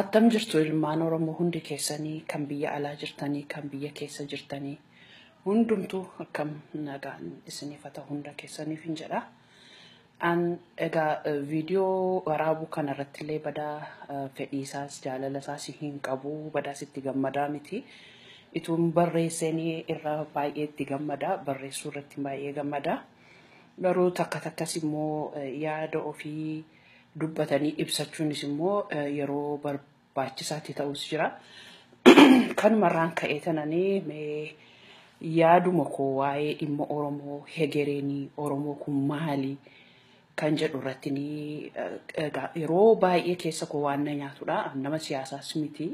Attam jirtu ilmaan oromoo hundi keessanii kan biyya alaa jirtanii kan biyya keessa jirtanii hundumtuu akkam nagaan isiniif haa ta'u hunda keessaniifin jedha. An egaa viidiyoo waraabuu kana irratti illee badaa fedhiisaas jaalalasaas hin qabu badaas itti gammadaa miti. Ituun barreessanii irra baay'ee itti gammada barreessuu irratti baay'ee gammada. Garuu takka takkas immoo yaada ofii dubbatanii ibsachuunis immoo yeroo barbaachisaatti ta'us jira. Kanumarraan ka'ee tananii mee yaaduma koo waa'ee dhimma Oromoo hegereenii Oromoo kun maali kan jedhu irratti ni yeroo baay'ee keessa koo waan na nyaatudha. Nama siyaasaas miti.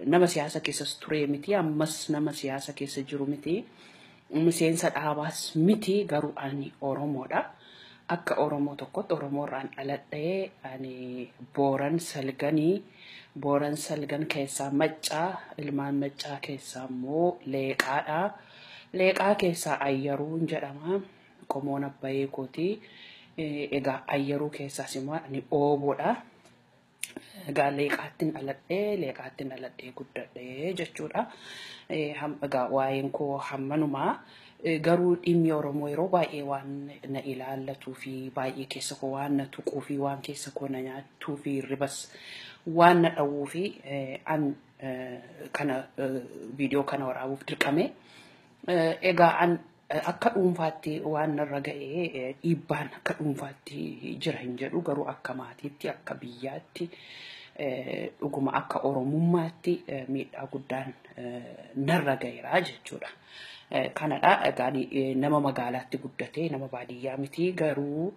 Nama siyaasa keessas turee miti. Ammas nama siyaasa keessa jiru miti. Miseensa dhaabaas miti garuu ani Oromoodha. Akka Oromoo tokkotti Oromoo irraan dhaladhe ani Booran Salgani. Booran Salgan keessaa Macca, ilmaan Maccaa keessaa immoo Leeqaadha. Leeqaa keessaa Ayyaruun jedhama. Qomoon abbayee kooti. Egaa Ayyaruu keessaas immoo ani Ooboodha. Egaa leeqaattin dhaladhee leeqaattin dhaladhee guddadhee jechuudha. Eh, ham- Egaa waa'een koo hammanumaa Eh, garuu dhimmi Oromoo yeroo baay'ee waan na ilaallatuu fi baay'ee keessa koo waan na tuquu fi waan keessa koo na nyaatuu fi hirribas waan na dhawwuu fi eh, an eh, kana eh, viidiyoo kana waraabuuf dirqame. Eh, Egaa an Akka dhuunfaatti waan narra ga'e dhiibbaan akka dhuunfaatti jira hin jedhu garuu akka maatiitti akka biyyaatti dhuguma akka oromummaatti miidhaa guddaan narra ga'eera jechuudha. Kanadha egaa nama magaalaatti guddatee nama baadiyyaa miti garuu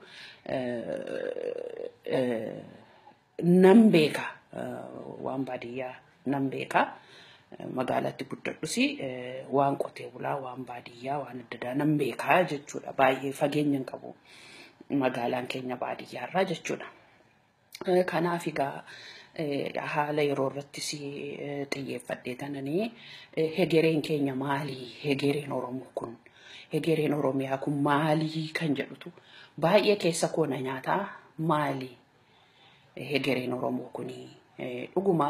Nan beeka waan baadiyyaa nan beeka. Magaalatti guddadhus waan qotee bulaa, waan baadiyyaa, waan adda addaa nan beeka jechuudha. Baay'ee fageenya hin qabu magaalaan keenya baadiyyaarraa jechuudha. Kanaaf egaa haala yeroo irrattis xiyyeeffadhee tananii hegereen keenya maali? Hegereen Oromoo kun hegereen Oromiyaa kun maali kan jedhutu baay'ee keessa koo na nyaataa maali? hegereen Oromoo kuni dhuguma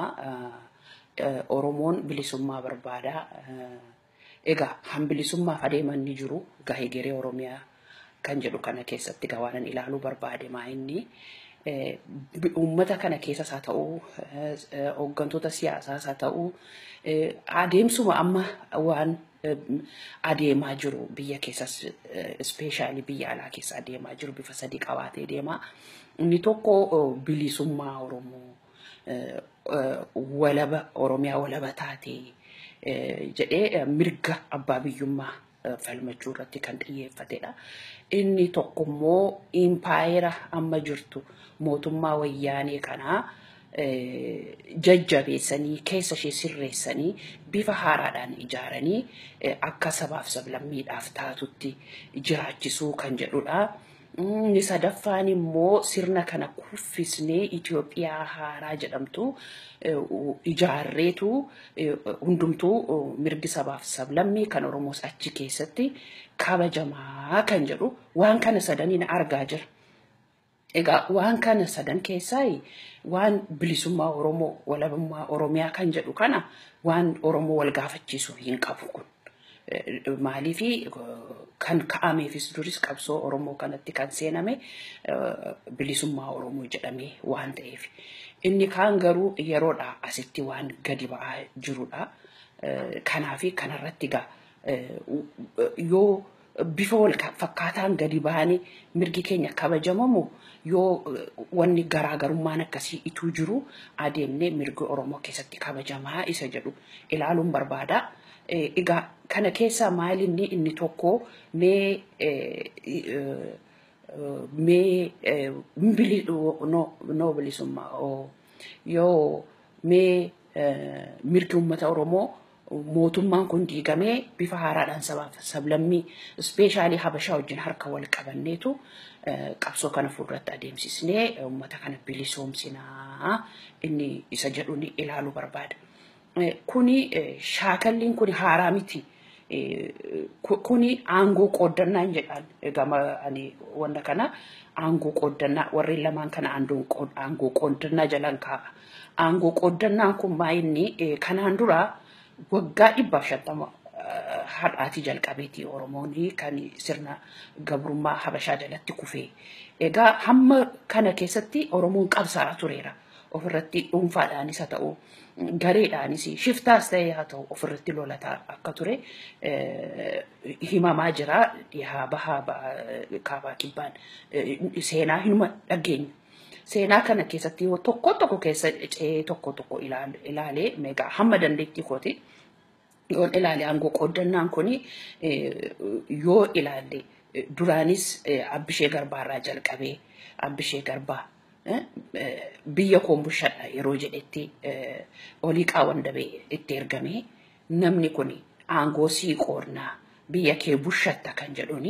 Oromoon bilisummaa barbaada. Egaa kan bilisummaaf adeeman ni jiru. Egaa hegeree Oromiyaa kan jedhu kana keessatti egaa waanan ilaaluu barbaade maa inni uummata kana keessas haa ta'u hooggantoota siyaasaas haa ta'u adeemsuma amma waan adeemaa jiru biyya keessas ispeeshaalii biyya alaa keessa adeemaa jiru bifa sadii qabaatee deema. Inni tokko bilisummaa Oromoo walaba Oromiyaa walaba taatee jedhee mirga abbaa biyyummaa falmachuu irratti kan xiyyeeffatedha. Inni tokko immoo impaayera amma jirtu mootummaa wayyaanee kanaa jajjabeessanii keessa ishee sirreessanii bifa haaraadhaan ijaaranii akka sabaaf sablammiidhaaf taatutti jiraachisuu kan jedhudha. Inni sadaffaan immoo sirna kana kuffisnee Itoophiyaa haaraa jedhamtu ijaarreetu hundumtuu mirgi sabaaf sablammii kan Oromoos achi keessatti kabajamaa kan jedhu waan kana sadaniin argaa jira. Egaa waan kana sadan keessaa waan bilisummaa Oromoo, walabummaa Oromiyaa kan jedhu kana waan Oromoo wal gaafachiisu hin qabu kun. Maaliif kan ka'ameefis duris qabsoo Oromoo kanatti kan seename bilisummaa Oromoo jedhamee waan ta'eef. Inni kaan garuu yeroodhaa asitti waan gadi ba'aa jirudha. Kanaafi kanarratti egaa yoo bifa wal fakkaataan gadi bahanii mirgi keenya kabajamamu yoo wanni garaa garummaan akkasii ituu jiru adeemnee mirgi Oromoo keessatti kabajamaa isa jedhu ilaaluun barbaada. Egaa kana keessaa maal inni inni tokko mee mee bili noo bilisummaa yoo mee mirgi uummata Oromoo Mootummaan kun diigamee bifa haaraadhaan sabaa fi sablammii ispeeshaalii Habashaa wajjin harka wal qabanneetu qabsoo kana fuulduratti adeemsisnee uummata kana bilisoomsina inni isa jedhuun ilaaluu barbaada. Kuni shaakalliin kuni haaraa miti. Kuni aangoo qooddannaan jedhaan gama ani wanna kana aangoo qooddannaa warreen lamaan kana aangoo qooddannaa jalaan kaa'a. Aangoo qooddannaan kun maa inni kanaan dura waggaa dhibbaaf shantama har'aatii jalqabeeti Oromoon kan sirna gabrummaa Habashaa jalatti kufee. Egaa hamma kana keessatti Oromoon qabsaa'aa tureera. Ofirratti dhuunfaadhaanis haa ta'u gareedhaanis shiftaas ta'ee haa ta'u ofirratti lolataa akka ture himamaa jira. Dhihaa bahaa kaabaa kibbaan seenaa hinuma dhageenyu. Seenaa kana keessatti yoo tokko tokko keessa cee tokko tokko ilaalee meeqa hamma dandeettii kooti yoon ilaale aangoo qooddannaan kun yoo ilaalle duraanis abbishee garbaarraa jalqabee abbishee garbaa biyya koon bushadha yeroo jedhetti olii qaawwan dabee itti ergamee Namni kun aangoo sii qoodna, biyya kee bushatta kan jedhuun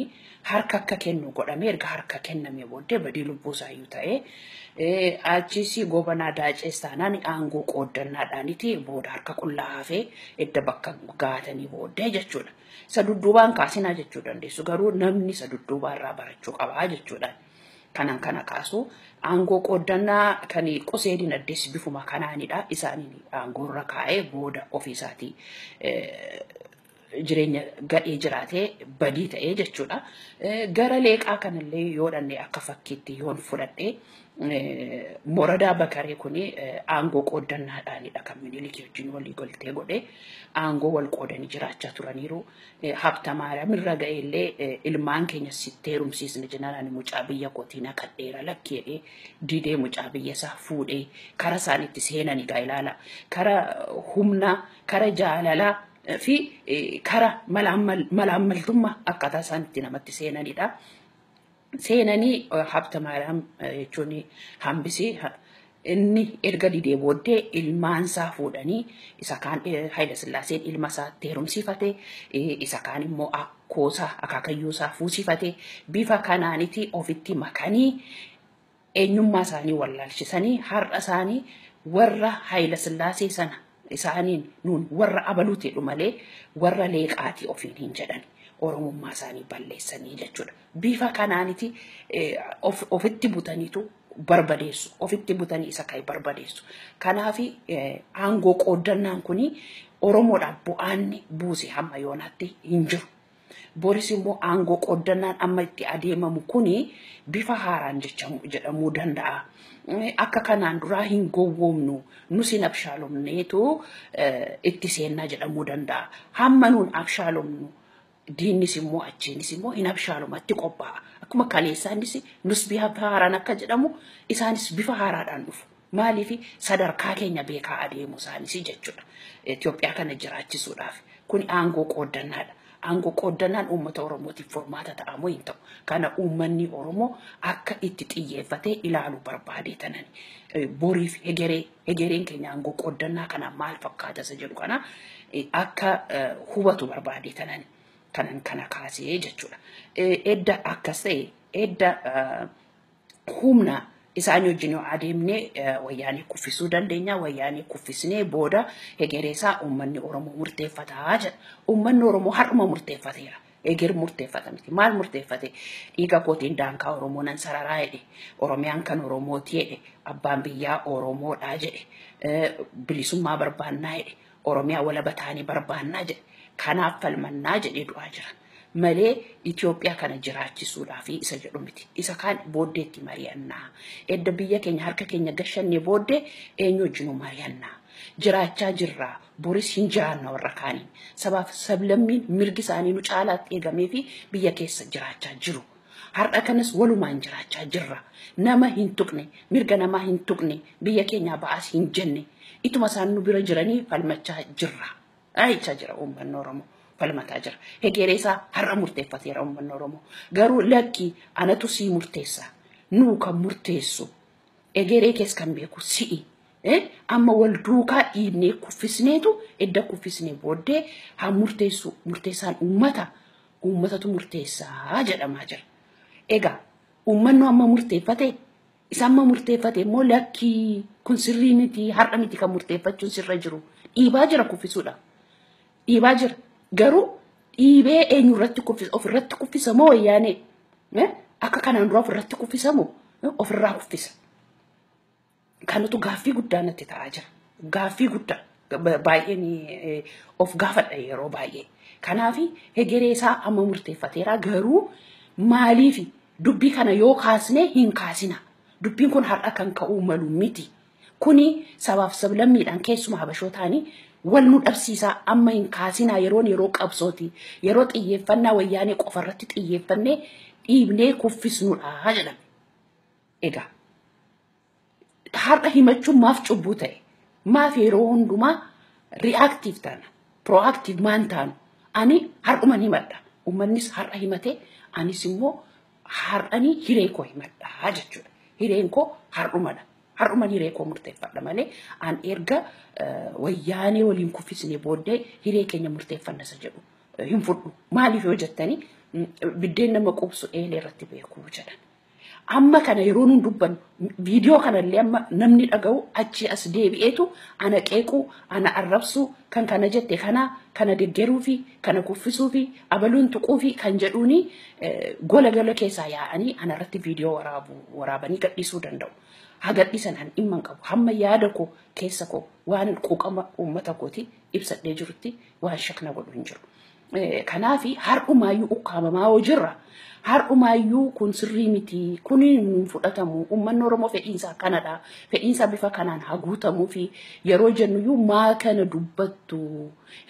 harka akka kennu godhamee erga harka kennamee booddee badii lubbuu isaayyuu ta'ee, achiis Goobanaa Daacees taanaan aangoo qooddannaadhaaniti booda harka qullaa hafee edda bakka gaatanii booddee jechuudha. Isa dudduubaa hin kaasinaa jechuu dandeessu. Garuu namni isa dudduubaa irraa barachuu qaba jechuudhaan. Kanan kana kaasu aangoo qooddannaa kan qusee dinagdees bifuma kanaanidha. Isaaniin aangoorra kaa'ee booda ofiisaatii jireenya gadhee jiraatee badii ta'ee jechuudha. Gara leeqaa kanallee yoo dhanne akka fakkiitti yoon fudhadhe Moradaa Bakaree kun aangoo qooddannaadhaanidha kan Minilikii wajjin walii galtee godhe aangoo wal qoodanii jiraachaa turaniiru. eh, Habtamaariyaam irra ga'e illee eh, ilmaan keenya sitti heerumsiisna jennaan ani mucaa biyya kootii naqadheera lakki jedhee didee mucaa biyya isaa fuudhee kara isaan itti seenan egaa ilaala kara humnaa kara jaalalaa eh, fi eh, kara malaammal- malaammaltummaa akkaataa isaan itti namatti seenanidha. seenanii habta maariyaam jechuun hambisee inni erga didee booddee ilmaan isaa fuudhanii isa kaan Haayila Sillaaseen ilma isaa heerumsiifate isa kaan immoo akkoosaa akaakayyuu isaa fuusifate bifa kanaaniti ofitti makanii eenyummaa isaanii wallaalchisanii har'a isaanii warra Hayila Sillaasee sana isaaniin nuun warra abaluuti jedhu malee warra leeqaati ofiin hin jedhan oromummaa isaanii balleessanii jechuudha. Bifa kanaaniti ofitti butaniitu barbadeessu ofitti butanii isa kan barbadeessu. Kanaaf aangoo qooddannaan kun Oromoodhaaf bu'aanni buuse hamma yoonaatti hin jiru. Boris immoo aangoo qooddannaan amma itti adeemamu kuni bifa haaraan jechamu- jedhamuu danda'a. Eh, Akka kanaan duraa hin gowwoomnu, nus hin abshaalomneetu eh, itti seennaa jedhamuu danda'a. Hamma nuun abshaalomnu diinnis immoo achiinis immoo hin abshaalomatti qophaa'a. Akkuma kaleessaa innis nus bifa haaraan akka jedhamu isaanis bifa haaraadhaan dhufu. Maaliif sadarkaa keenya beekaa adeemuu isaaniis jechuudha. Itoophiyaa kana jiraachisuudhaaf. Kuni aangoo qooddannaadha. Aangoo qooddannaan uummata Oromootiif furmaata ta'a moo hin ta'u? Kana uummanni Oromoo akka itti xiyyeeffatee ilaalu barbaadee tanani. Boriif hegeree, hegereen keenya aangoo qooddannaa kanaan maal fakkaata isa jedhu kana akka hubatu barbaadee tanani. Kanan kana kaasee jechuudha. Edda akkas ta'e, edda humna isaanii wajjin yoo adeemne wayyaanee kuffisuu dandeenya. Wayyaanee kuffisnee booda hegeree isaa uummanni Oromoo murteeffataa jedha. Uummanni Oromoo har'uma murteeffateera. Eger murteeffata miti. Maal murteeffate? Dhiiga kootiin daankaa Oromoo nan sararaa jedhe. Oromiyaan kan Oromooti jedhe. Abbaan biyyaa Oromoodhaa jedhe. Bilisummaa barbaannaa jedhe. Oromiyaa walaba taane barbaannaa jedhe. Kanaaf falmannaa jedhee du'aa jira. Malee Itoophiyaa kana jiraachisuudhaafi isa jedhu miti. Isa kaan booddeetti mari'annaa. Edda biyya keenya harka keenya gashannee booddee eenyu wajjinuu mari'annaa. Jiraachaa jirraa boris hin jiraanna warra kaaniin. Sabaaf sablammiin mirgi isaanii nu caalaatti eegameefi biyya keessa jiraachaa jiru. Har'a kanas walumaan jiraachaa jirra. Nama hin tuqne, mirga namaa hin tuqne, biyya keenyaa ba'aas hin jenne. Ituma isaan nu bira jiranii falmachaa jirra. Jechaa jira uummanni Oromoo. Falmataa jira. Hegeree isaa har'a murteeffateera uummanni Oromoo. Garuu lakki anatu sii murteessa. Nuu kan murteessu. Egeree kees kan beeku si'i. Amma wal duukaa dhiibnee kuffisneetu edda kuffisnee booddee haa murteessu murteessaan uummata. uummatatu murteessaa jedhamaa jira. Egaa uummannu amma murteeffate isa amma murteeffate immoo lakkii kun sirrii miti har'a miti kan murteeffachuun sirra jiru dhiibaa jira kuffisuudha. Dhiibaa jira garuu dhiibee eenyu irratti kuffisa of irratti kuffisa moo wayyaanee akka kanaan dura of irratti kuffisa moo of irraa kuffisa. Kanatu gaaffii guddaa natti ta'aa jira. Gaaffii guddaa ba- baay'een eh, of gaafadha yeroo baay'ee. Kanaaf hegeree isaa amma murteeffateera garuu maaliif dubbii kana yoo kaasne hin kaasina. Dubbiin kun har'a kan ka'uu malu miti. Kuni sabaaf sablammiidhaan keessuma habashootaani wal nu dhabsiisaa amma hin kaasinaa yeroon yeroo qabsooti. Yeroo xiyyeeffannaa wayyaanee qofa irratti xiyyeeffannee dhiibnee kuffisnudha jedhame. Egaa har'a himachuun maaf cubbuu ta'e? Maaf yeroo hundumaa reactive taana? Proactive maan taanu? Ani har'uman himadha. Uummannis har'a himatee anis immoo har'anii hiree koo himadha jechuudha. Hireen koo har'umadha. Har'uman hiree koo murteeffadha malee an erga wayyaanee waliin kuffisnee booddee hiree keenya murteeffanna isa jedhu hin fudhu. Maaliif yoo jettanii biddeen nama quubsu eelee irratti beekuu jedhan. Amma kana yeroo nuun dubbannu viidiyoo kanallee amma namni dhaga'u achi as deebi'eetu ana qeequu, ana arrabsuu, kan kana jette kana, kana deggeruu fi kana kuffisuu fi abaluun tuquu fi kan jedhuuni gola gola keessaa yaa'anii ana irratti viidiyoo waraabu waraabanii gadhiisuu danda'u. Haa gadhiisan ani dhimma hin qabu. Hamma yaada koo keessa koo waan quuqama uummata kooti ibsadhee jirutti waan shakna godhu hin jiru. Kanaaf har'umaayyuu ukkaamamaa yoo jirra har'umaayyuu kun sirrii miti kun hin fudhatamu uummanni Oromoo fedhiinsaa kanadha fedhiinsaa bifa kanaan haguutamuu fi yeroo jennuyyuu maa kana dubbattu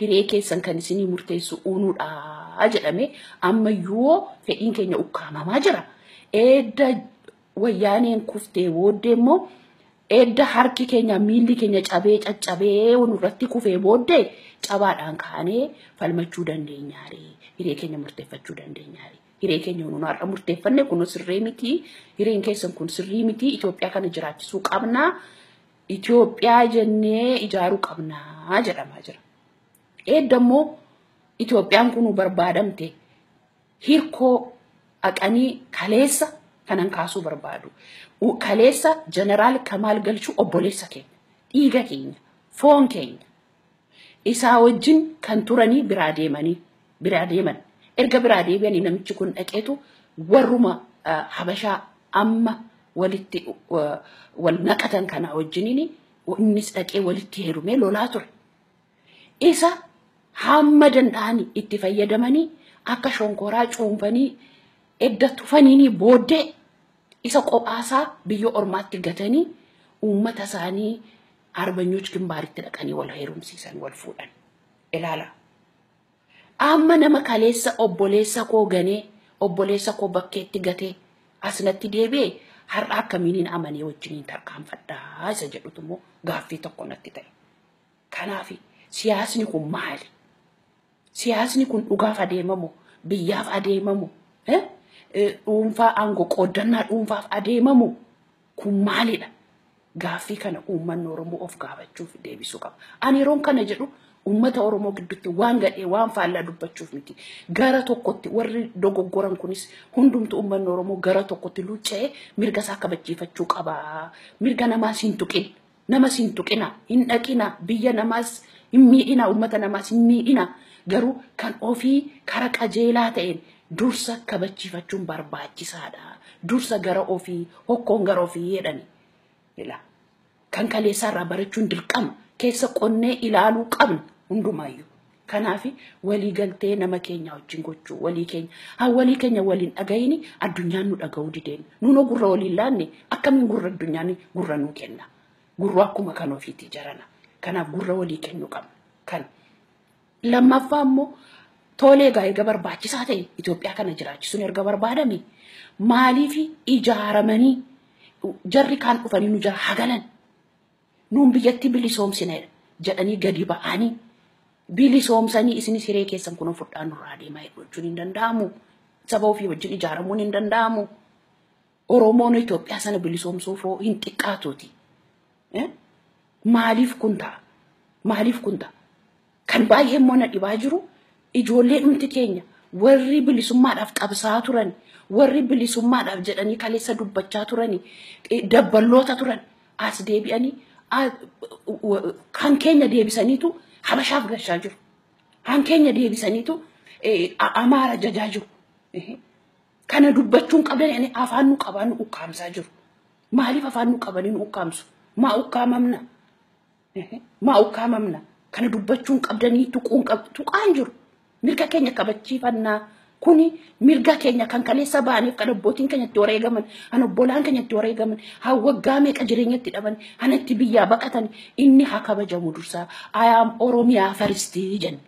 hiree keessan kan isinii murteessu uunudha jedhame ammayyuu fedhiin keenya ukkaamamaa jira. Edda wayyaaneen kuftee booddee immoo edda harki keenya miilli keenya cabee caccabee nurratti kufee booddee cabaadhaan kaanee falmachuu dandeenyaare hiree keenya murteeffachuu dandeenyaare hiree keenya nuun har'a murteeffanne kun sirrii miti hireen keessan kun sirrii miti Itoophiyaa kana jiraachisuu qabnaa Itoophiyaa jennee ijaaruu qabnaa jedhamaa jira. Edda immoo Itoophiyaan kun barbaadamte Hirkoo dhaqanii kaleessa kanan kaasuu barbaadu. Kaleessa Jeneraal Kamaal Galchuu obboleessa keenya, dhiiga keenya, foon keenya. Isaa wajjin kan turanii biraa deemanii biraa deeman. Erga biraa deebi'anii namichi kun dhaqeetu warruma Habashaa amma walitti wal naqatan kana wajjiniin innis dhaqee walitti heerumee lolaa ture. isa hamma danda'an itti fayyadamanii akka shonkoraa cuunfanii edda tufaniinii booddee isa qophaasaa biyya ormaatti gatanii uummata isaanii arbanyoch gimbaaritti dhaqanii wal heerumsiisan wal fuudhan. Ilaala. Amma nama kaleessa obboleessa koo ganee obboleessa koo bakkeetti gatee asnatti deebi'e har'a akkamiiniin amanee wajjiniin tarkaanfadhaa isa jedhutu immoo gaaffii tokko natti ta'e. Kanaaf siyaasni kun maali? Siyaasni kun dhugaaf adeemamu, biyyaaf adeemamu, dhuunfaa aangoo qooddannaa dhuunfaaf adeemamu kun maalidha? Gaaffii kana uummanni Oromoo of gaafachuuf deebisuu qaba. Ani yeroon kana jedhu uummata Oromoo gidduutti waan gadhee waan faallaa dubbachuuf miti. Gara tokkotti warri dogoggoran kunis hundumtu uummanni Oromoo gara tokkotti luucca'ee mirga isaa kabachiifachuu qaba. Mirga namaas hin tuqin. Namas hin tuqina, hin dhaqina, biyya namaas hin miidhina, uummata namaas hin miidhina. Garuu kan ofii kara qajeelaa ta'een dursa kabachiifachuun barbaachisaadha. Dursa gara ofii, hokkoon gara ofii jedhani. Ila. Kan kaleessaarraa barachuun dirqama. Keessa qonnee ilaaluu qabna hundumaayyuu. Kanaafi walii galtee nama keenyaa wajjin gochuu walii keenya haa walii keenya wal hin dhagahini addunyaan nu dhagahuu dideen nuunoo gurra walii hin laanne akkamiin gurra addunyaan gurra nuu kenna gurru akkuma kan ofiitii jarana kanaaf gurra walii kennuu qabna kan lammaffaa immoo toolee egaa erga barbaachisaa ta'e Itoophiyaa kana jiraachisuun erga barbaadame maaliif ijaaramanii jarri kaan dhufanii nu jala hagalan Nuun biyyattii bilisoomsineera jedhanii gadi ba'anii bilisoomsanii isinis hiree keessan kunoo fudhaa nurraa deemaa hedduu jechuun hin danda'amu. Saba ofii wajjin ijaaramuun hin danda'amu. Oromoon Itoophiyaa sana bilisoomsuuf hoo hin xiqqaatuuti. Eh? Maaliif kun ta'a? Maaliif kun ta'a? Kan baay'ee immoo na dhibaa jiru ijoollee dhumti keenya warri bilisummaadhaaf qabsaa'aa turan, warri bilisummaadhaaf jedhanii kaleessa dubbachaa turani, eh, dabballoota turan as deebi'anii ah, wa- kan keenya deebisaniitu habashaaf gashaa jiru. Kan keenya deebisaniitu eh, a- amaara jajaa jiru. Ehe. Kana dubbachuun qabdan ani afaan nu qabaa nu ukkaamsaa jiru. Maaliif afaan nu qabanii nu ukkaamsu? Maa ukkaamamna? Maa ukkaamamna? Kana dubbachuun qabdanii tuquun qab tuqaan jiru. Mirga keenya kabachiifannaa. Kuni mirga keenya kan kaleessa ba'aniif kan abbootiin keenya itti wareegaman, kan obbolaan keenya itti wareegaman, kan waggaa meeqa jireenya itti dhaban, kan itti biyyaa baqatan inni haa kabajamu dursaa. I am Oromiyaa first jenne.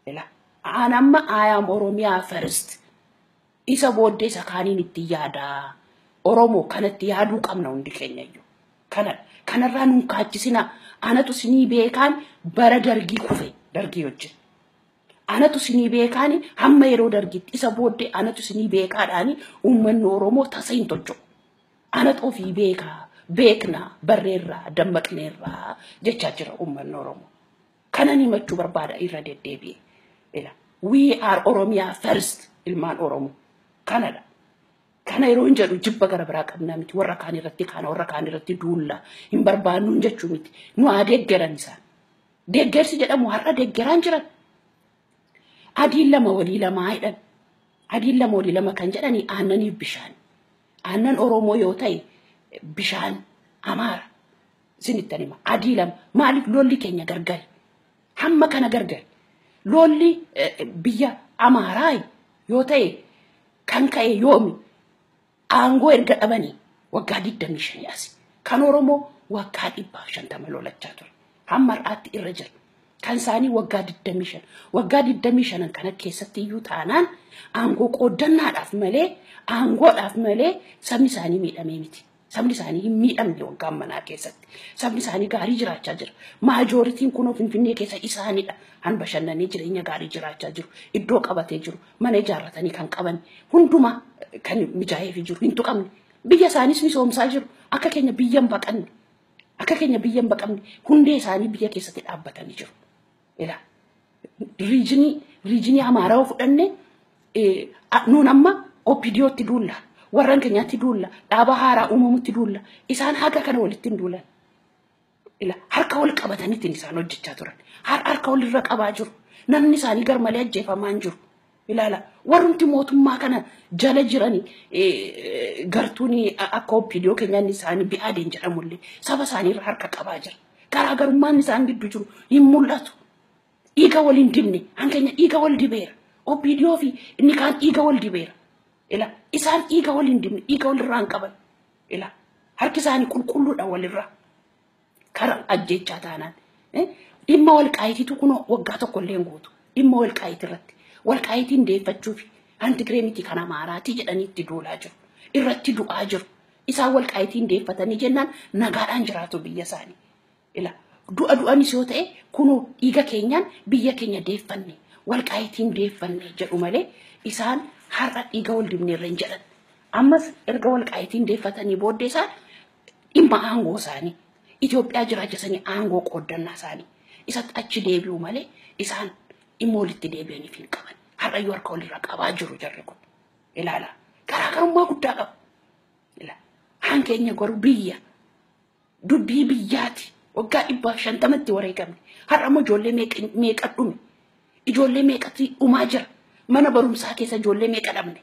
Ila. Aan amma I am Oromiyaa first. Isa booddee isa kaaniin itti yaadaa. Oromoo kanatti yaaduu qabna hundi keenya iyyuu. Kanadha. Kanarraa nun kaachisina. Anatu sinii beekaan bara dargii kufe dargii wajjin. Anatu sinii beekaan hamma yeroo dargiitti isa booddee anatu sinii beekaadhaan uummanni Oromoo tasa hin tolchu. Anatu ofii beekaa beekna barreerraa dammaqneerraa jechaa jira uummanni Oromoo. Kanan himachuu barbaada irra deddeebi'e. Ila we are Oromia first ilmaan Oromoo kanadha. Kana yeroo hin jedhu jibba gara biraa qabnaa miti warra kaan irratti kaana warra kaan irratti duulla hin barbaannuun jechuu miti nu haa deeggaran isaan. Deeggarsi jedhamu har'a deeggaraan jiran. Adiin lama walii lamaa jedhan. Adiin lama walii lama kan jedhani aannaniif bishaan. Aannan Oromoo yoo ta'e bishaan Amaara. Sinittan hima. Adii lama. Maaliif lolli keenya gargari? Hamma kana gargari. Lolli eh, biyya Amaaraa yoo ta'e kan ka'e yoomi? Aangoo erga dhabanii waggaa 25 as. Kan Oromoo waggaa 150 lolachaa ture. Hamma har'aatti irra jira. Kan isaanii waggaa 25. Waggaa 25 kana keessatti iyyuu taanaan aangoo qooddannaadhaaf malee aangoodhaaf malee sabni isaanii miidhamee miti. Sabni isaanii hin miidhamne waggaa ammanaa keessatti. Sabni isaanii gaarii jiraachaa jira. Maajooritiin kunoo Finfinnee keessa isaanidha. Han bashannanii jireenya gaarii jiraachaa jiru. Iddoo qabatee jiru. Mana ijaarratanii kan qaban. Hundumaa kan mijaa'eefi jiru. Hin tuqamne. Biyya isaaniis misoomsaa jiru. Akka keenya biyya hin baqanne. Akka keenya biyya hin baqamne. Hundee isaanii biyya keessatti dhaabbatanii jiru. Ila riijinii riijinii Amaaraa yoo fudhanne eh, a- nuun amma OPDOtti duulla warran keenyatti duulla dhaaba haaraa uumamutti duulla isaan haga kana walitti hin duulan. ila harka wal qabataniitiin isaan hojjechaa turan Har- harka wal irra qabaa jiru namni isaanii garmalee ajjeefamaa hin jiru Ilaala warrumti mootummaa kana jala jiran gartuun akka OPDO keenyaa inni isaanii bi'aadeen jedhamullee saba isaanii irra harka qabaa jira. Garaagarummaan isaan gidduu jiru hin mul'atu. Dhiiga wal hin dibne hankeenya dhiiga wal dibeera. OPDO fi inni kaan dhiiga wal dibeera. Ila isaan dhiiga wal hin dibne dhiiga wal irraa hin qaban. Ila harki isaanii qulqulluudha walirraa. Karaa ajjechaa taanaan dhimma walqaayitiitu kunoo waggaa tokko illee guutu dhimma walqaayiti irratti walqaayitiin deeffachuuf hanti giree miti kan amaaraati jedhanii itti duulaa jiru irratti du'aa jiru isaan walqaayitiin deeffatanii jennaan nagaadhaan jiraatu biyya isaanii ila du'a du'anis yoo ta'e kunoo dhiiga keenyaan biyya keenya deeffanne walqaayitiin deeffanne jedhu malee isaan har'a dhiiga wal dibneerra hin jedhan ammas erga walqaayitiin deeffatanii booddee isaan dhimma aangoo isaanii Itoophiyaa jiraachisanii aangoo qooddannaa isaanii isatti achi deebi'u malee isaan dhimma walitti deebi'aniif hin qaban. Har'ayyuu harka walirra qabaa jiru jarri kun. Ilaala. Garaagarummaa guddaa qabu. Ilaala. Haan keenya garuu biyya dubbii biyyaati. Waggaa dhibbaaf shantamatti wareegamne. Har'a immoo ijoollee meeqa- meeqa dhume. Ijoollee meeqatti dhumaa jira. Mana barumsaa keessa ijoollee meeqa dhabne.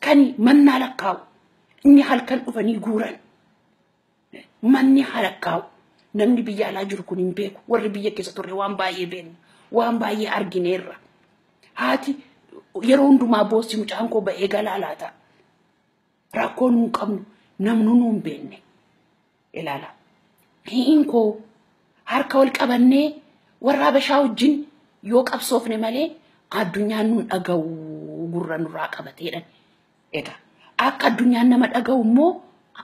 Kan mannaa lakkaa'u inni halkan dhufanii guuran manni halakkaa'u namni biyya alaa jiru kun hin beeku warri biyya keessa turre waan baay'ee beekna waan baay'ee argineerra haati yeroo hundumaa boossi mucaan koo ba'ee galaa laata rakkoon hin qabnu namnu nu hin beekne ilaala. Hi'iin koo harka wal qabannee warra Habashaa wajjin yoo qabsoofne malee addunyaan nun dhaga'u gurra nurraa qabateedhan. Egaa akka addunyaan nama dhaga'u immoo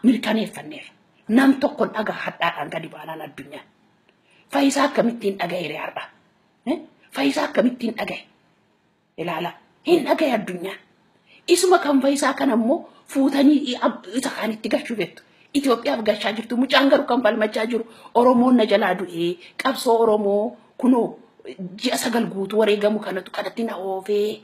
mirkaneeffanneerra. Nam tokkon dhagaa hadhaadhaan gadi baanaan addunyaan. Fayyisaa akkamittiin dhaga'eere har'a? Eh? Fayyisaa akkamittiin dhaga'e? Ilaala hin dhagaye addunyaan. Isuma kan fayisaa kana immoo fuutanii i- ab- isa kaanitti galchuu beektu. Itoophiyaaf galchaa jirtu. Mucaan garuu kan falmachaa jiru Oromoon na jalaa du'ee qabsoo Oromoo kunoo ji'a sagal guutuu wareegamu kanatu kanatti na oofee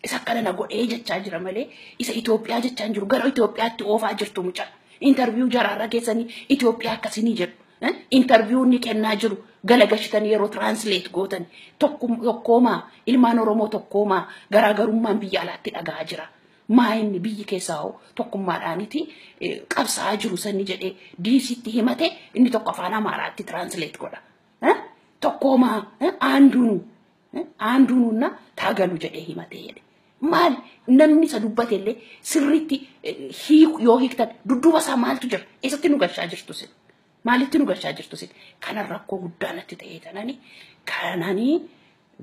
isa akkana na godhee jechaa jira malee isa Itoophiyaa jechaa hin jiru gara Itoophiyaatti oofaa jirtu mucaa. Intarviyuu jaraarra keessanii Itoophiyaa akkasii ni jedhu. interviyuu inni kennaa jiru galagashitan yeroo translate gootan tokkoomaa ilmaan Oromoo tokkoomaa garaagarummaan biyya alaatti dhagahaa jira. Maa inni biyyi keessaa hoo tokkummaadhaaniti qabsaa'aa jiru sanni jedhee diisitti himate inni tokko afaan Amaaraatti translate godha. Tokkoomaa aanduunu Aandu nuunna taagalu jedhee himate jedhe. Maali namni isa dubbate illee sirriitti hiiku yoo hiiktan dudduuba isaa maaltu jira? Eessatti nu galchaa jirtu sin? Maalitti nu galchaa jirtu sin? Kana rakkoo guddaa natti ta'ee tanani kanani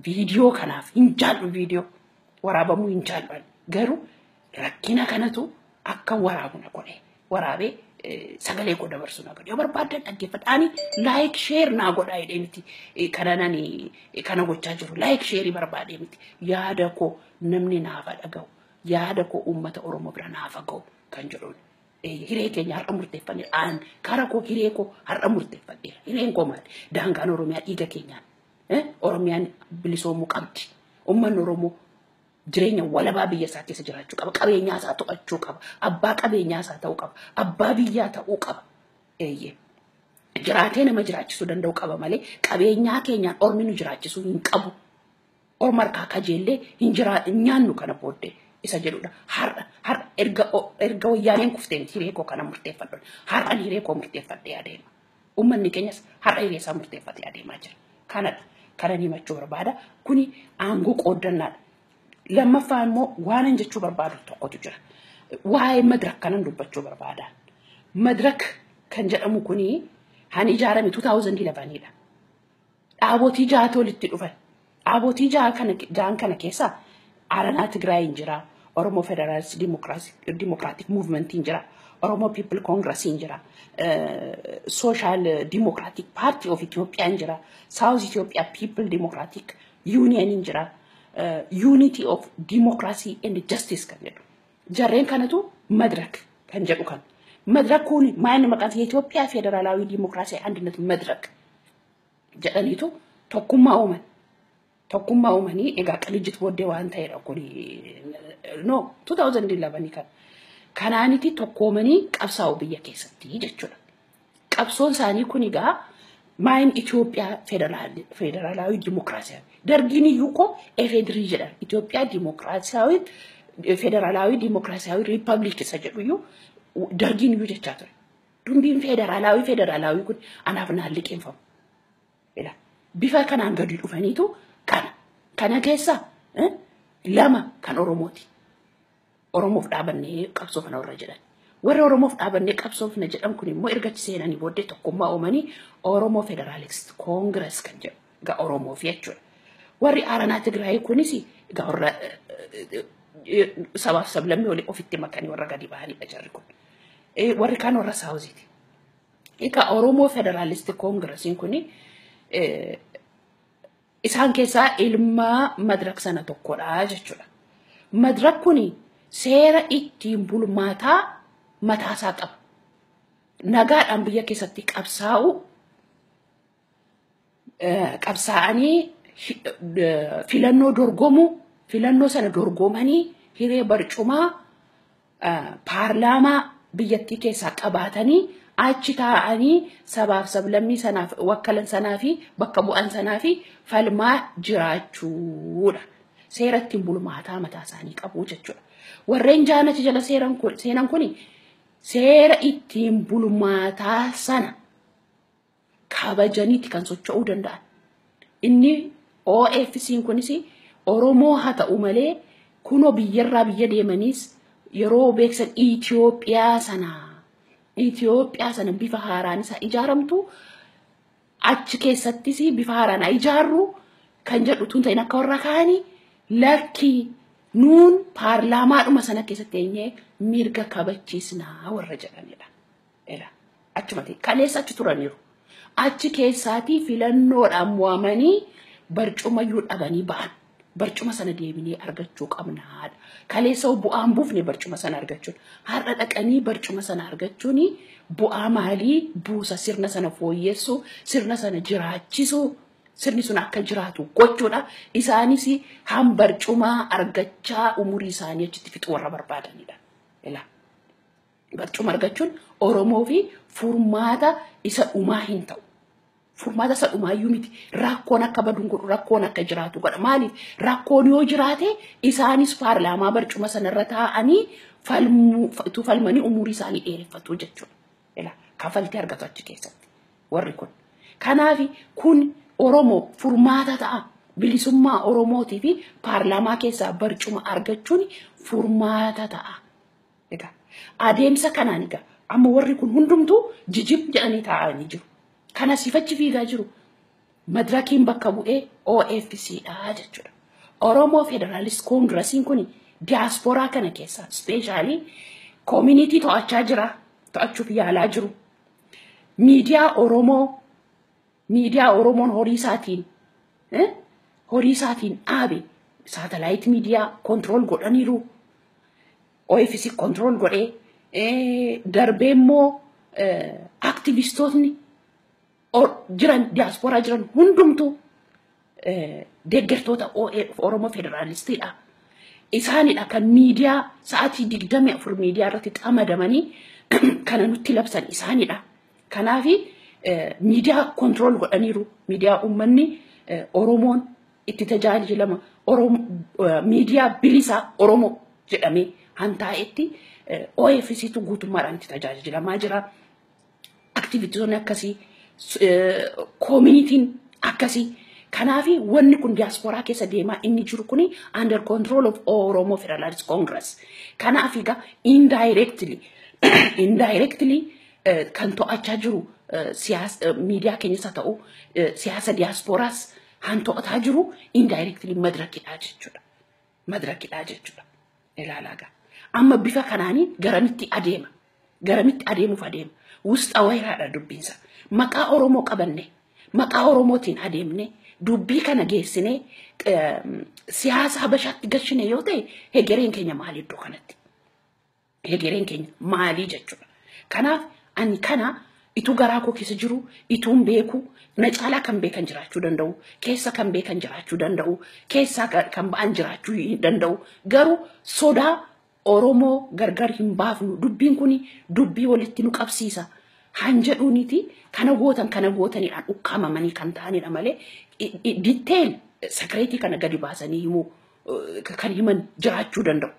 viidiyoo kanaaf hin jaallu viidiyoo waraabamuu hin jaallu garuu rakkina kanatu akka waraabu na godhe waraabee eh, sagalee koo dabarsu na godhe yoo barbaaddan dhaggeeffadha ani laayik sheer naa godhaa jedhee miti Eh, kana nani eh, kana gochaa jiru laayik sheerii barbaadee miti yaada koo namni naafa dhaga'u yaada koo uummata oromoo bira naafa ga'u kan jedhuun Eh, hiree keenya har'a murteeffanne aan kara koo hiree koo har'a murteeffadheera hireen koo maali daangaan oromiyaa dhiiga keenyaan Eh, oromiyaan bilisoomuu qabdi ummanni oromoo jireenya walabaa biyya isaa keessa jiraachuu qaba. Qabeenyaa isaa to'achuu qaba. Abbaa qabeenyaa isaa ta'uu qaba. Abbaa biyyaa ta'uu qaba. Eeyyee. Jiraatee nama jiraachisuu danda'u qaba malee qabeenyaa keenyaan ormi nu jiraachisuu hin qabu. Orma harkaa kajeellee hin jiraa hin nyaannu kana booddee isa jedhudha. Har'a har'a erga erga wayyaaneen kufteen hiree koo kana murteeffadhu. Har'an hiree koo murteeffadhee adeema. Uummanni keenyas har'a hiree isaa murteeffatee adeemaa jira. Kanadha. Kanan himachuu barbaada. Kuni aangoo qooddannaadha. Lammaffaa immoo waanan jechuu barbaadu tokkotu jira. Waa'ee madirak kanan dubbachuu barbaada. Madirak kan jedhamu kuni kan ijaarame 2011 dha. Dhaabotii jahatu walitti dhufan. Dhaabotii jaha kana jahan kana keessa Aranaa Tigraayiin jira, Oromoo Federaalist Dimokiraatik Muuvimentiin jira, Oromoo Piipil Koongirasiin jira, Sooshaal Dimokiraatik Paartii of Itoophiyaan jira, Saawuz Itoophiyaa Piipil Dimokiraatik Yuuniyeniin jira, Yuunitii of Dimokiraasii and Jastiis kan jedhu. Jarreen kanatu madrak kan jedhu kan. Madrak kun maayinni maqaan Itoophiyaa Federaalawii Dimokiraasii Andinet Madrak. jedhaniitu tokkummaa uuman. Tokkummaa uumanii egaa qilijjit booddee waan ta'edha kuni no 2011 kan kanaaniti tokkoomanii qabsaa'u biyya keessatti jechuudha. Qabsoon isaanii kun egaa maayin Itoophiyaa federaalaawi dimokiraasiyaawi. Dargiin iyyuu koo efedirii jedhan Itoophiyaa dimokiraasiyaawi federaalaawi dimokiraasiyaawi riippaabilik isa jedhu iyyuu dargiin iyyuu jechaa ture. Dumbiin federaalaawii federaalaawii kun anaaf naan liqeeffamu. Ila bifa kanaan gadi dhufaniitu kana kana keessa eh, lama kan Oromooti. Oromoof dhaabannee qabsoofna warra jedhan. Warri Oromoof dhaabannee qabsoofna jedhan kun immoo erga achi seenanii booddee tokkummaa uumanii Oromoo Federaalist Koongirees kan jedhu. Egaa Oromoof jechuudha. Warri Aaranaa Tigraayii kunis egaa warra eh, eh, sabaaf sablammii olii ofitti makanii warra gadi ba'anidha jarri kun. Eh, Warri kaan warra Saawuziiti. Egaa Oromoo Federaalisti Koongirasiin kun isaan keessaa ilmaa madrak sana tokkodha jechuudha. Madrak kun seera ittiin bulmaataa mataasaa qaba. Nagaadhaan biyya keessatti qabsaa'uu qabsaa'anii filannoo dorgomuu filannoo sana dorgomanii hiree barcumaa paarlaamaa biyyattii keessaa qabaatanii achi taa'anii sabaaf sablammii sanaaf wakkalan sanaa fi bakka bu'an sanaa fi falmaa jiraachuudha. Seera ittiin bulmaataa mataa isaanii qabu jechuudha. Warreen jaanachi jala seeran kun seenan kuni seera ittiin bulmaataa sana kabajaniiti kan socho'uu danda'an. Inni OFC'n kunis Oromoo haa ta'u malee kunoo biyyarraa biyya deemaniis yeroo beeksan Itoophiyaa sana Itoophiyaa sana bifa haaraan isaa ijaaramtu achi keessattis bifa haaraan haa ijaarru kan jedhu tun ta'in akka warra kaanii lakki nuun paarlaamaadhuma sana keessatti eenyee mirga kabachiisnaa warra jedhanidha. Ela. Achuma ta'e. Kaleessa achi turaniiru. Achi keessaatii filannoodhaan mo'amanii barcumayyuu dhabanii ba'an. Barcuma sana deebinee argachuu qabna haadha. Kaleessa hoo bu'aan buufne barcuma sana argachuun. Har'a dhaqanii barcuma sana argachuun bu'aa maalii buusa sirna sana fooyyessuu, sirna sana jiraachisuu, sirni sun akka jiraatu gochuudha. Isaanis han barcumaa argachaa umurii isaanii achitti fixuu warra barbaadanidha. Ilaa. Barcuma argachuun Oromoo fi furmaata isa dhumaa hin ta'u. Furmaata isa dhumaa iyyuu miti. Rakkoon akka badu hin godhu, rakkoon akka jiraatu godha. Maaliif? Rakkoon yoo jiraate isaanis paarlaamaa barcuma sanarra taa'anii falmuu, utuu falmanii umurii isaanii dheereffatu jechuudha. Ila kafaltii argatu achi keessatti warri kun. Kanaaf kun Oromoo furmaata ta'a. Bilisummaa Oromootii fi paarlaamaa keessaa barcuma argachuun furmaata ta'a. Egaa adeemsa kanaan egaa amma warri kun hundumtuu jijib jedhanii taa'anii jiru. Kan asiif achi fiigaa jiru madirakiin bakka bu'ee OFC dha jechuudha. Oromoo Federaalist Koongirasiin kun diyaaspooraa kana keessaa ispeeshaalii koomunitii to'achaa jira, to'achuuf yaalaa jiru. Miidiyaa Oromoo Miidiyaa Oromoon horii isaatiin horii isaatiin dhaabe saatalaayit miidiyaa kontirool godhaniiru. OFC kontirool godhee darbee immoo aktivistootni jiran diyaaspooraa jiran hundumtuu deeggartoota OAF Oromoo Federaalistiidha. Isaanidha kan miidiyaa sa'aatii digdamii afur miidiyaa irratti xamadamanii kana nutti labsan isaanidha. Kanaafi miidiyaa kontirool godhaniiru. Miidiyaa uummanni Oromoon itti tajaajilama. Miidiyaa bilisaa Oromoo jedhamee hantaa'etti OFCtu guutummaadhaan itti tajaajilamaa jira. Aktivistoonni akkasii koomiinitiin akkasii kanaaf wanni kun diyaaspooraa keessa deemaa inni jiru kun under control of Oromo Federalist Congress kanaaf egaa indirectly indirectly kan to'achaa jiru siyaasa miidiyaa keenyas haa ta'u siyaasa diyaaspooraas kan to'ataa jiru indirectly madrakidha jechuudha. madrakidhaa jechuudha. Ilaalaa gaa. Amma bifa kanaanii garamitti adeema. Garamitti adeemuuf adeema. Wusxa wayraadha dubbiinsa. Maqaa Oromoo qabanne. Maqaa Oromootiin adeemne. Dubbii kana geessinee siyaasa habashaatti gashine yoo ta'e hegereen keenya maal iddoo kanatti. hegereen keenya maalii jechuudha. Kanaaf ani kana ituu garaa koo keessa jiru ituun beeku na caalaa kan beekan jiraachuu danda'u keessa kan beekan jiraachuu danda'u keessaa kan kan ba'an jiraachuu hin danda'u garuu sodaa Oromoo gargar hin baafnu dubbiin kun dubbii walitti nu qabsiisa han jedhuuniti kana gootan kana gootanidhaan ukkaamamanii kan ta'anidha malee detail sakireetii kana gadi baasanii himuu kan himan jiraachuu danda'u.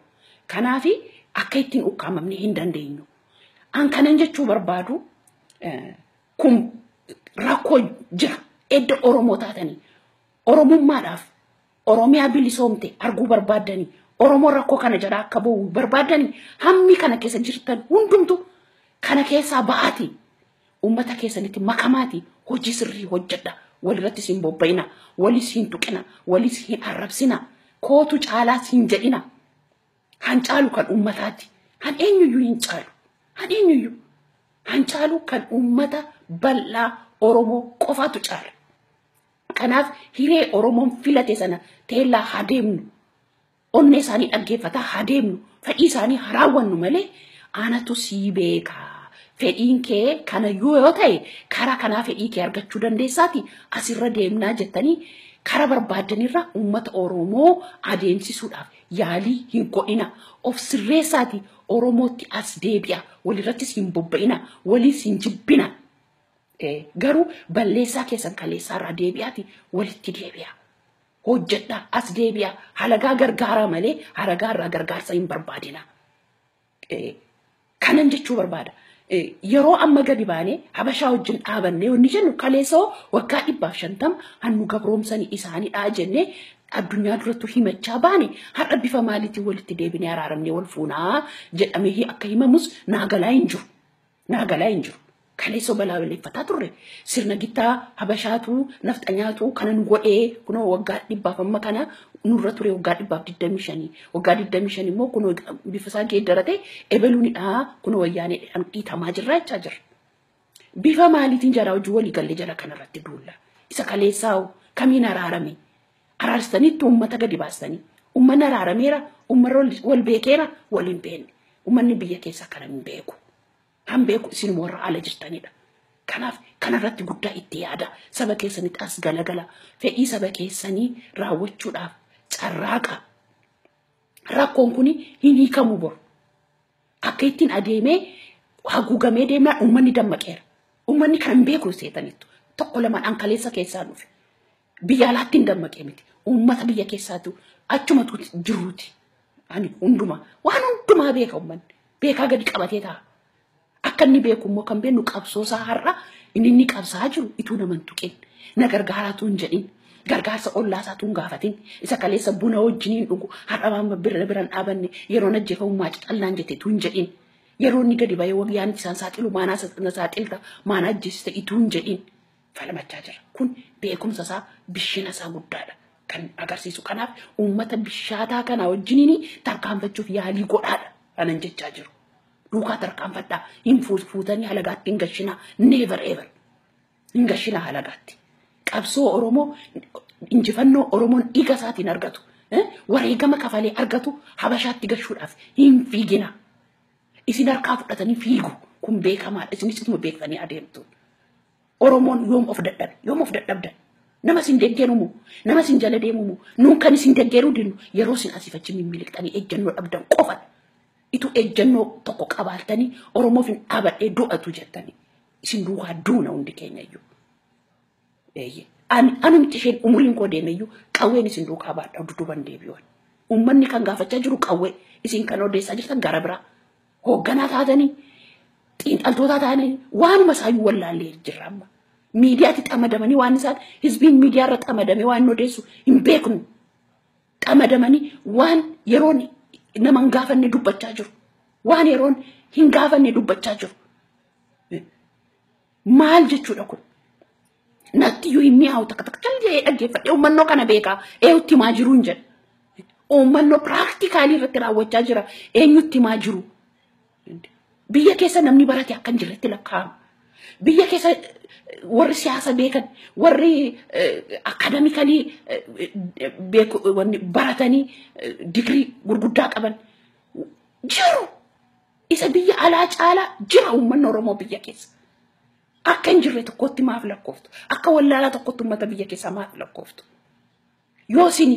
Kanaaf akka ittiin ukkaamamne hin dandeenyu. An kanan jechuu barbaadu kun rakkoo jira. Edda Oromoo taatanii Oromummaadhaaf Oromiyaa bilisoomte arguu barbaaddanii Oromoo rakkoo kana jala akka ba'u barbaaddanii hammi kana keessa jirtan hundumtu kana keessaa ba'aatii Ummata keessanitti makamaati hojii sirrii hojjedha. Walirratti siin bobba'ina. Wali siin tuqina. Wali siin arrabsina. Kootu caalaa siin jedhina. Han caalu kan ummataati. Han eenyuyyuu hin caalu. Han eenyuyyuu. Han caalu kan ummata bal'aa Oromoo qofaatu caala. Kanaaf hiree Oromoon filate sana teellaa haa deemnu. Onnee isaanii dhaggeeffataa haa deemnu. Fedhii isaanii haa raawwannu malee anatu sii beeka. Fedhiin kee kanayyuu yoo ta'e karaa kanaa fedhii kee argachuu dandeessaati asirra deemnaa jettanii karaa barbaaddanirra uummata Oromoo adeemsisuudhaaf yaalii hin godhina. Of sirreessaati Oromootti as deebi'a. Walirrattis hin bobba'ina. Waliis hin jibbina. Garuu balleessaa keessan kaleessaarraa deebi'aati walitti deebi'a. hojjedhaa as deebi'aa halagaa gargaaraa malee halagaa irraa gargaarsa hin barbaadinaa. Eh, kanan jechuu barbaada. Eh, Yeroo amma gadi baanee habashaa wajjin dhaabannee wanni jennu kaleessoo waggaa dhibbaaf shantama hannu gabroomsanii isaanidhaa jennee addunyaa durattuu himachaa baane har'a bifa maaliitiin walitti deebinee araaramnee wal fuunaa jedhamee akka himamus naa galaa hin jiru. Naa galaa hin jiru. Kaleessa balaaleffataa turre sirna gittaa habashaatu nafxanyaatu kana nu godhee kunoo waggaa dhibbaaf amma kana nurra ture waggaa dhibbaaf digdamii shanii waggaa digdamii shan immoo kunoo bifa isaa geeddaratee ebeluunidha kunoo wayyaaneedhaan dhiitamaa jirra jechaa jirra. Bifa maaliitiin jaraa hojii walii gallee jara kanarratti duulla isa kaleessaa hoo kamiin araarame Araarsanitti uummata gadi baastanii. Uummanni araarameera, uummanni wal beekeera, wal hin beekne. Uummanni biyya keessa kana hin beeku. Kan beeku isin warra ala jirtanidha. Kanaaf kanarratti guddaa itti yaada. Saba keessanitti as galagala. Fedhii saba keessanii raawwachuudhaaf carraaqa. Rakkoon kun hin hiikamu bor. Akka ittiin adeemee haguugamee deemnaan uummanni dammaqeera. Uummanni kan hin beeku seetaniittu. Tokko lamaan ankaleessa keessaa dhufe. Biyya alaatti hin dammaqee miti. Uummata biyya keessaatu achumatu jiruuti. Ani hundumaa waan hundumaa beeka uummanni. Beekaa gadi qabatee ta'a. Akka inni beeku immoo kan beeknu qabsoosaa har'a inni inni qabsaa jiru ituu naman tuqin. Na gargaaraatu hin jedhin. Gargaarsa ollaa isaatu hin gaafatin. Isa kaleessa buna wajjin hin dhugu. Har'a waan bira bira hin dhaabanne yeroo najjeefamu maatii xallaan jetteetu hin jedhin. Yeroo inni gadi ba'ee wayyaan isaan saaxilu maanaa saaxilta maanaa ajjeesista ituu hin jedhin. falmachaa jira. Kun beekumsa isaa bishina isaa guddaadha kan agarsiisu. Kanaaf uummata bishaataa kana wajjiniin tarkaanfachuuf yaalii godhaadha kanan jechaa jiru. Duukaa tarkaanfadhaa hin fuus- fuutanii halagaatti hin gashinaa never ever hin gashinaa halagaatti. Qabsoo Oromoo injifannoo Oromoon dhiiga isaatiin argatu eh, wareegama kafalee argatu habashaatti gashuudhaaf hin fiiginaa. Isin harkaa fudhatanii fiigu kun beekamaadha isinis ituma beektanii adeemtu. Oromoon yoom of dadhabe yoom of dadhabda nama isin deggeru moo nama isin jala deemu moo nuun kan isin deggeru dinnu yeroo isin asiif achi mimmiliqxanii ejjennoo dhabdan qofan itu ejjennoo tokko qabaattanii Oromoof hin dhaabadhee du'atu jettanii isin duukaa duuna hundi keenya iyyuu. Eeyyee. Ani anumti isheen umuriin koo deeme iyyuu qawween isin duukaa baadha dudduuban deebi'uun. Uummanni kan gaafachaa jiru qawwee isin kan odeessaa jirtan gara biraa. Hoogganaa taatanii xiinxaltootaa taanee waanuma isaayyuu wallaallee jirra amma. Miidiyaatti xamadamanii waan isaan hizbiin miidiyaarra xamadamee waan odeessu hin beeknu. Xamadamanii waan yeroon nama hin gaafanne dubbachaa jiru. Waan yeroon hin gaafanne dubbachaa jiru. Maal jechuudha kun? Natti iyyuu hin mi'aawu takka takka callee dhaggeeffadhe uummannoo kana beekaa eenyutti himaa jiru hin jedhu. Uummannoo piraaktikaalii irratti raawwachaa jira eenyutti himaa jiru. Biyya keessa namni barate akka hin jirretti lakkaa'ama. Biyya keessa warri siyaasa beekan warri akaadamikalii baratanii digirii gurguddaa qaban jiru. Isa biyya alaa caalaa jira uummanni Oromoo biyya keessa. Akka hin jirre tokkotti maaf lakkooftu? Akka wallaalaa tokkotti uummata biyya keessaa maaf lakkooftu? Yoo isin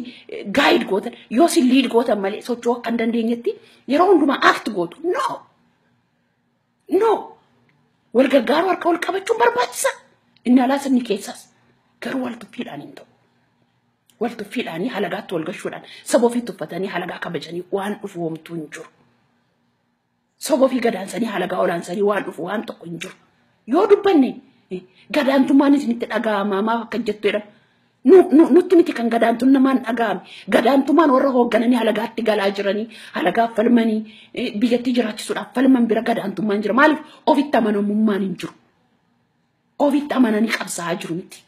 gaayid gootan, yoo isin liid gootan malee socho'uu akka hin dandeenyetti yeroo hundumaa act gootu. No! No! Wal gargaaruu harka wal qabachuun barbaachisa. Inni alaas inni keessas. Garuu wal tuffiidhaan hin ta'u. Wal tuffiidhaan halagaatti wal gashuudhaan saba ofii tuffatanii halagaa kabajanii waan dhufu homtuu hin jiru. Soboo fi gadaan sanii halagaa olaan sanii waan dhufu waan tokko hin jiru. Yoo dubbanne eh, gadaantummaan isinitti dhaga'amaa maaf akka jettu jedhama. Nu- nu- Nutti miti kan gadaantuun namaan dhaga'ame. Gadaantummaan warra hooggananii halagaatti galaa jiranii, halagaaf falmanii, eh, biyyattii jiraachisuudhaaf falman bira gadaantummaan jira. Maaliif ofitti amanamummaan hin jiru. Ofitti amananii qabsaa'aa jiru miti.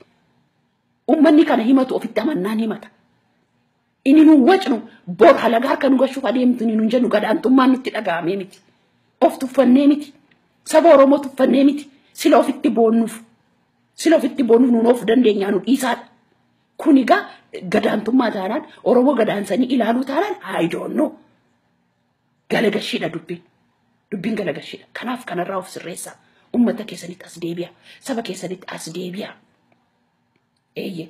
Uummanni kana himatu ofitti amannaan himata. Inni nu wacnu bor halagaa harka nu gashuuf adeemtu inni nun jennu gadaantummaan nutti dhaga'amee miti. Of tuffannee miti. Saba Oromoo tuffannee miti. Sila ofitti boonnuuf. Sila ofitti boonnuuf nuun of dandeenyaa nu dhiisaadha. Kun egaa gadaantummaa taanaan Oromoo gadaansanii ilaaluu taanaan I don't know. Galagashiidha dubbiin. Dubbiin galagashiidha. Kanaaf kanarraa of sirreessaa. Uummata keessanitti as deebi'a. Saba keessanitti as deebi'a. Eeyyee.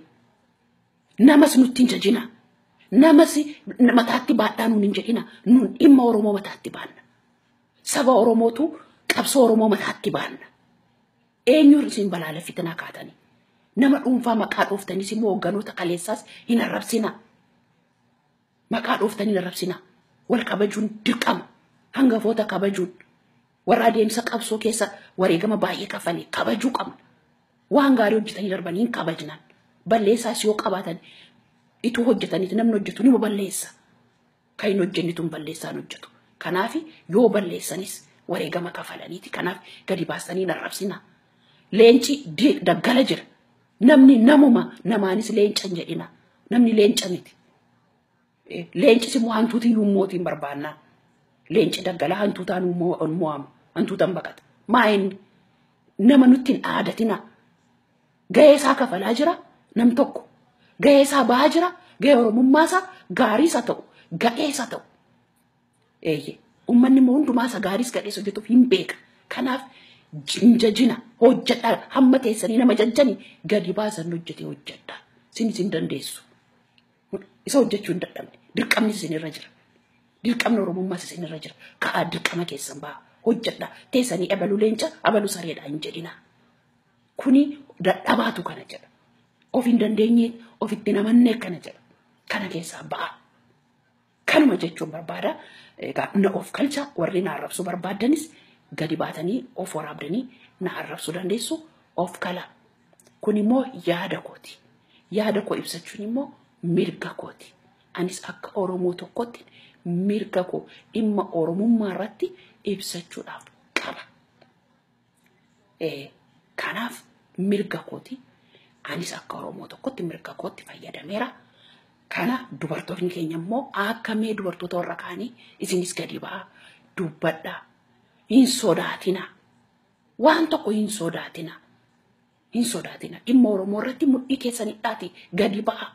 Namas nutti hin jajina. Namas mataatti baadhaa nuun hin jedhina. Nuun dhimma Oromoo mataatti baanna. Saba Oromootu qabsoo Oromoo mataatti baanna. Eenyuun isin balaaleffitinaa kaatanii. Nama dhuunfaa maqaa dhooftaniis immoo hogganoota kaleessaas hin arrabsinaa. Maqaa dhooftanii hin arrabsinaa. Wal kabajuun dirqama. Hangafoota kabajuun. Warra adeemsa qabsoo keessa wareegama baay'ee kaffalee kabajuu qabna. Waan gaarii hojjetanii darbanii hin kabajnan. Balleessaas yoo qabaatan ituu hojjetaniiti namni hojjetu nima balleessa. Kan hin hojjennitu hin balleessaan hojjetu. Kanaaf yoo balleessanis wareegama kafalaniiti. Kanaaf gadi baastanii hin arrabsina. Leenci di- daggala jira. Namni namuma namaanis leenca hin jedhina. Namni leenca miti. Leenci si mo'a hantuuti hin mootiin barbaannaan. Leenci daggalaa hantuutaan mo'ama. Hantuutaan baqata. Maa inni nama nutti hin aadatinaa. Gahee isaa kafalaa jira nam tokko. Gahee isaa bahaa jira. Gahee oromummaa isaa gaarii isa ta'u. Gadhee isa ta'u. Eeyyee. Uummanni immoo hundumaa isa gaariis gadhees hojjetuuf hin beeka. Kanaaf hin jajina hojjedha hamma teessanii nama jajjani gadi baasan hojjetee hojjedha. Sinis hin dandeessu. Isa hojjechuu hin dadhabne. Dirqamnis isinirra jira. Dirqamni Oromummaas isinirra jira. Ka'aa dirqama keessan ba'a. Hojjedha. Teessanii abalu leenca abalu sareedha hin jedhina. Kuni dadhabaatu kana jedha. Of hin dandeenye ofitti namannee kana jedha. Kana keessaa ba'a. Kanuma jechuun barbaada. Egaa na of kalcha warri na arrabsuu barbaaddanis gadi baatanii of waraabdanii na arrabsuu dandeessu of kala. Kun immoo yaada kooti. Yaada koo ibsachuun immoo mirga kooti. Anis akka Oromoo tokkotti mirga koo dhimma Oromummaa irratti ibsachuudhaaf qaba. Kanaaf mirga kooti. Anis akka Oromoo tokkotti mirga kootti fayyadameera. Kana dubartoonni keenya immoo akka mee dubartoota warra kaanii isinis gadi ba'aa dubbadhaa hin sodaatina. Waan tokko hin sodaatina. Hin sodaatina. Dhimma Oromoo irratti mudhii keessan hidhaatii gadi ba'aa.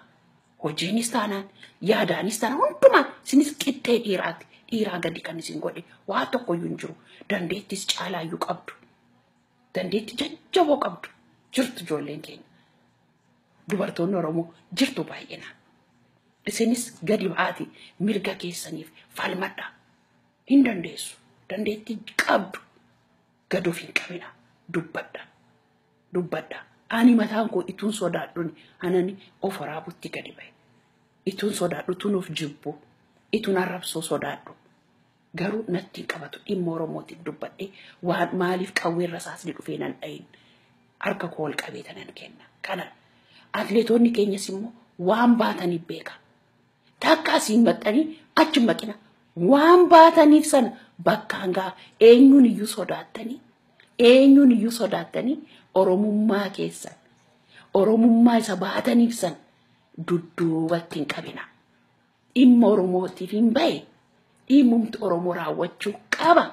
Hojiinis taanaan, yaadaanis taanaan hundumaan isinis qixxee dhiiraati. Dhiiraa gadi kan isin godhe waa tokkoyyuu hin jiru. Dandeettis caalaayyuu qabdu. Dandeetti jajjaboo qabdu. Jirtu ijoolleen keenya. Dubartoonni Oromoo jirtu baay'inaan. Isinis gadi ba'aatii mirga keessaniif falmadhaa. Hin dandeessu. Dandeetti qabdu. Gad of hin qabina. Dubbadha. Dubbadha. Ani mataan koo ituun sodaadhuni anani of waraabutti gadi ba'e. Ituun sodaadhu tun of jibbu. Ituun arrabsoo sodaadhu. Garuu natti hin qabatu dhimma Oromootiif dubbadhee waan maaliif qawween rasaasni dhufee nan dhayin harka koo ol qabeeta nan kenna. Kana atleetoonni keenyas immoo waan baataniif beeka. Takka asiin maxxanii achi maqina. Waan baataniif sana bakkaan ga'a. Eenyuun iyyuu sodaattanii eenyuun iyyuu sodaattanii Oromummaa keessan Oromummaa isa baataniif sana dudduubatti hin qabina. Dhimma Oromootiif hin bahe dhimmumti Oromoo raawwachuu qaba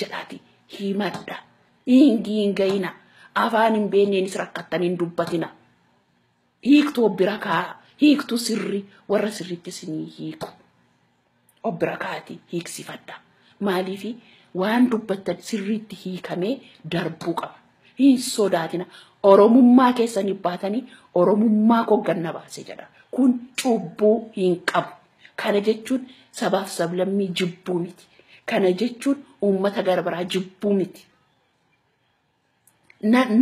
jedhaati himadha. Dhiingii hin ga'ina. Afaan hin beekneenis rakkattanii hin dubbatina. hiiktu obbira kaa hiiktu sirri warra sirriitti isinii hiiku obbira kaati hiiksifadha maaliifi waan dubbattan sirriitti hiikamee darbuu qaba hin sodaatina oromummaa keessanii baatanii oromummaa koo ganna baase jedha kun cubbuu hin qabu kana jechuun sabaaf sablammii jibbuu miti kana jechuun uummata gara biraa jibbuu miti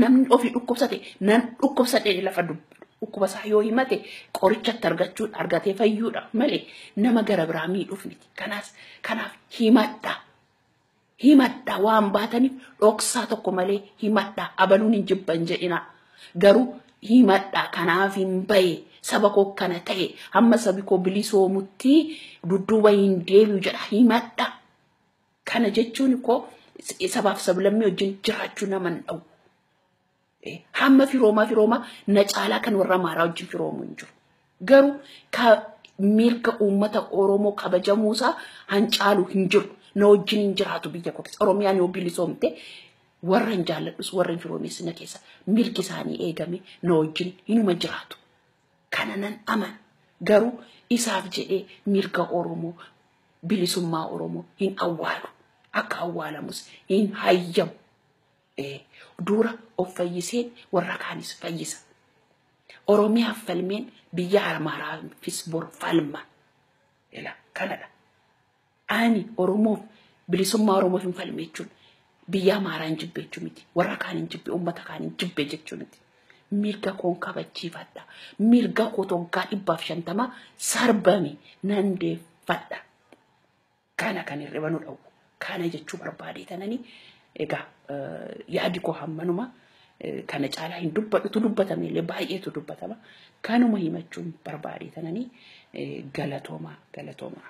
namni ofii dhukkubsate nan dhukkubsadhee lafa dhukkuba isaa yoo himate qorichatti argachuun argatee fayyuudha malee nama gara biraa miidhuuf miti. Kanaas kanaaf himadha. Himadha waan baataniif dhoksaa tokko malee himadha abaluun hin jibban jedhina. Garuu himadha kanaaf hin baye saba koo kana ta'e hamma sabi koo bilisoomutti dudduuba hin deebi'u jedha himadha. Kana jechuun koo sabaaf sablammii wajjin jiraachuu nama hin dha'u. Hamma firoomaa firoomaa na caalaa kan warra Amaaraa wajjin firoomu hin jiru. Garuu ka mirga uummata Oromoo kabajamuusaa hancaalu hin jiru. Na wajjin hin jiraatu biyya koo keessa. Oromiyaan yoo bilisoomte warra hin jaalladhus warra hin firoomees na keessa mirgi isaanii eegame na wajjin hinuma jiraatu. Kana nan amana. Garuu isaaf jedhee mirga Oromoo bilisummaa Oromoo hin awwaalu. Akka awwaalamus hin hayyamu. Dura of fayyiseen warra kaanis fayyisa. Oromiyaaf falmeen biyya Amaaraafis bor falma. Ila kanadha. Ani Oromoof bilisummaa Oromoof hin falme jechuun Biyya Amaaraan jibbe jechuu miti. Warra kaanin jibbe, uummata kaanin jibbe jechuu miti. Mirga koon kabachiifadha. Mirga koo toggaa dhibbaaf shantama sarbame nan deeffadha. Kana kan hirriba nu dhowwu. Kana jechuu barbaadee tanani egaa yaadi koo hammanuma kana caalaa hin dubbadhutu dubbatame illee baay'eetu dubbatama. Kanuma himachuun barbaadee tanani galatoomaa galatoomaa.